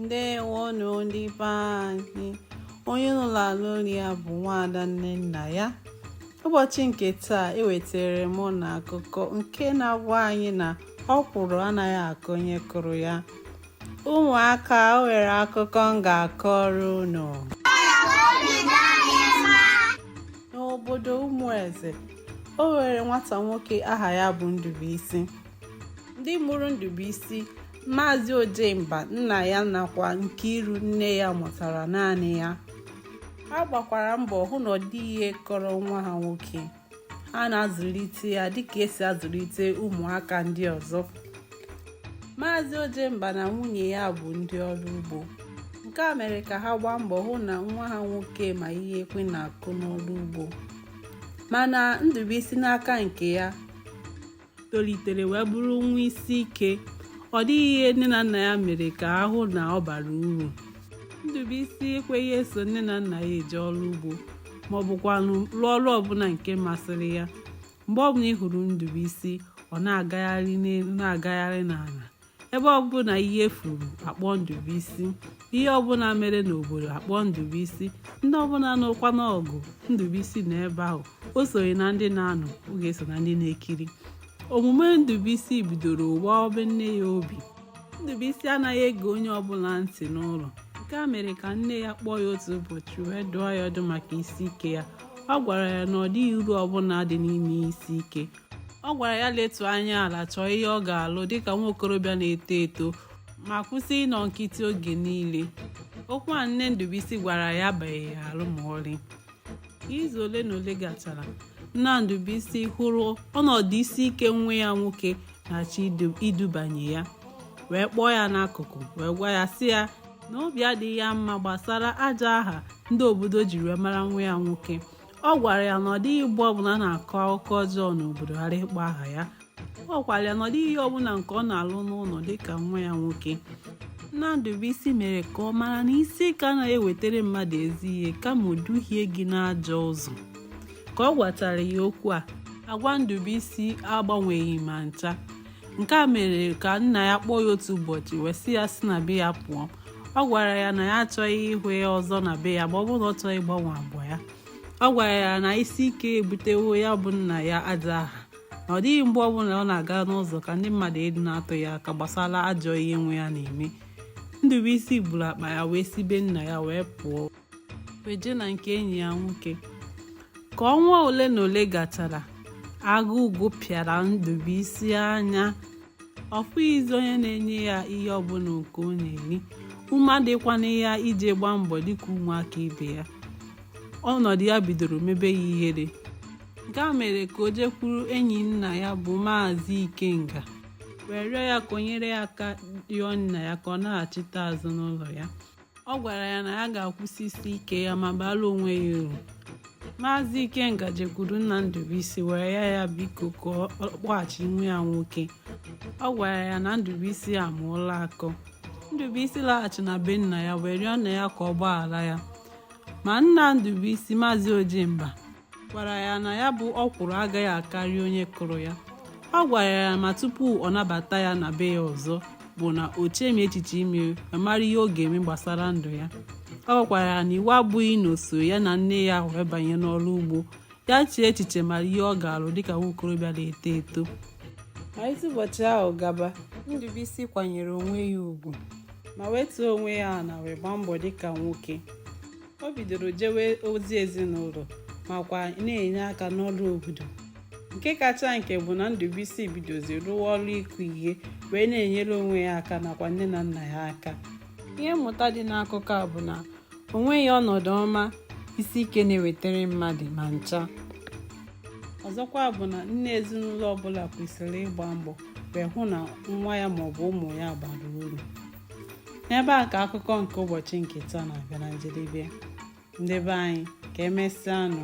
ndewonụ ndị be anyị onye unu na-anụ olu ya bụ nwaada Nnennaya ụbọchị nke taa ewetara m unu akụkọ nke na-agwa anyị na ọkwụrụ anaghị aka onye kụrụ ya ụmụaka o nwere akụkọ m ga-akọrọ unu n'obodo Ụmụeze o nwere nwata nwoke aha ya bụ Ndubuisi ndị mụrụ Ndubuisi Maazị Ojemba nna ya nakwa Nkiru nne ya mụtara naanị ya ha gbakwara mbọ hụ na ọ dịghị ihe kọrọ nwa ha nwoke ha na-azụlite ya dịka esi azụlite ụmụaka ndị ọzọ Maazị Ojemba na nwunye ya bụ ndị ọrụ ugbo nke a mere ka ha gbaa mbọ hụ na nwa ha nwoke ma ihe ekwe na-akụ n'ọrụ ugbo mana Ndubuisi n'aka nke ya tolitere wee bụrụ nwa isi ike ọ dịghị ihe nne na nna ya mere ka a hụ na ọ bara uru Ndubuisi ekweghị eso nne na nna ya eje ọrụ ugbo ma ọ bụkwanụ rụọ ọrụ ọbụla nke masịrị ya mgbe ọbụla ị hụrụ Ndubuisi ọ na-agagharị n'elu na-agagharị n'ala ebe ọbụla ihe furu a kpọọ Ndubuisi ihe ọbụla mere n'obodo a kpọọ Ndubuisi ndị ọbụla nụkwanụ ọgụ Ndubuisi nọ ebe ahụ o sonyeghị na ndị na-anụ ọ ga-eso na ndị na-ekiri omume Ndubuisi bidoro gbawabe nne ya obi Ndubuisi anaghị ege onye ọbụla ntị n'ụlọ nke a mere ka nne ya kpọọ ya otu ụbọchị wee dụọ ya ọdụ maka isi ike ya ọ gwara ya na ọ dịghị uru ọbụla dị n'ime isi ike ọ gwara ya letu anya ala chọọ ihe ọ ga-alụ dịka nwa okorobịa na-eto eto ma kwụsị ịnọ nkịtị oge niile okwu a nne Ndubuisi gwara ya abaghị ya arụ ma ọlị izu ole na ole gachara nna Ndubuisi hụrụ ọnọdụ isi ike nwa ya nwoke na-achọ idubanye ya wee kpọọ ya n'akụkụ wee gwa ya sị ya na obi adịghị ya mma gbasara ajọ aha ndị obodo jiri wee mara nwa ya nwoke ọ gwara ya na ọ dịghị mgbe ọbụla a na-akọ akụkọ ọjọọ n'obodo ghara ịkpọ aha ya ọ gwara ya na ọ dịghị ihe ọbụla nke ọ na-alụ n'ụlọ dịka nwa ya nwoke nna Ndubuisi mere ka ọ mara na isi ike anaghị ewetara mmadụ ezi ihe kama o duhie gị n'ajọ ụzọ ka ọ gwachara ya okwu a agwa Ndubuisi agbanweghị ma ncha nke a mere ka nna ya kpọọ ya otu ụbọchị wee sị ya si na be ya pụọ ọ gwara ya na ya achọghị ịhụ ya ọzọ na be ya ma ọ bụrụ na ọ chọghị ịgbanwe agwa ya ọ gwara ya na isi ike ebutewo ya bụ nna ya ajọ aha na ọ dịghị mgbe ọbụla ọ na-aga n'ụzọ ka ndị mmadụ adịghị na-atụ ya aka gbasara ajọ ihe nwa ya na-eme Ndubuisi buru akpa ya wee si be nna ya wee pụọ wee jee na nke enyi ya nwoke ka ọnwa ole na ole gachara agụụ gụpịara ndụbụisi anya ọ fụghịzi onye na-enye ya ihe ọbụla nke ọ na-eri ume adịkwana ya iji gbaa mbọ dịka ụmụaka ibe ya ọnọdụ ya bidoro mebe ya ihere nke a mere ka o jekwuru enyi nna ya bụ maazị ikenga wee rịọ ya ka o nyere ya aka rịọ nna ya ka ọ naghachite azụ n'ụlọ ya ọ gwara ya na ya ga-akwụsị isi ike ya ma baala onwe ya uru maazị ikenga jekwuru nna ndụbụisi wee rịọ ya biko ka ọ kpọghachi nwa ya nwoke ọ gwara ya na ndụbụisi amụọla akọ ndụbụisi laghachi na be nna ya wee rịọ nna ya ka ọ gbaghara ya ma nna ndụbụisi maazị ojemba gwara ya na ya bụ ọkwụrụ agaghị akarị onye kụrụ ya ọ gwara ya ma tupu ọ nabata ya na be ya ọzọ bụ na o chemi echiche ime ma mara ihe ọ ga-eme gbasara ndụ ya ọ gwakwara ya na iwu abụghị na o so ya na nne ya wee banye n'ọrụ ugbo ya chee echiche mara ihe ọ ga-alụ dịka nwa okorobịa na-eto eto malite ụbọchị ahụ gaba ndụbụisi kwanyere onwe ya ugwu ma wetuo onwe ya ana wee gbaa mbọ dịka nwoke o bidoro jewe ozi ezinụlọ makwa na-enye aka n'ọrụ obodo nke kacha nke bụ na Ndubuisi bidozi rụwa ọrụ ịkụ ihe wee na-enyere onwe ya aka nakwa nne na nna ya aka ihe mmụta dị n'akụkọ a bụ na o nweghị ọnọdụ ọma isi ike na-ewetara mmadụ ma ncha ọzọkwa bụ na nne ezinụlọ ọbụla kwesịrị ịgba mbọ wee hụ na nwa ya maọbụ ụmụ ya bara uru n'ebe a ka akụkọ nke ụbọchị nke taa na-abịa na njedebe ndị be anyị ka emesịa nụ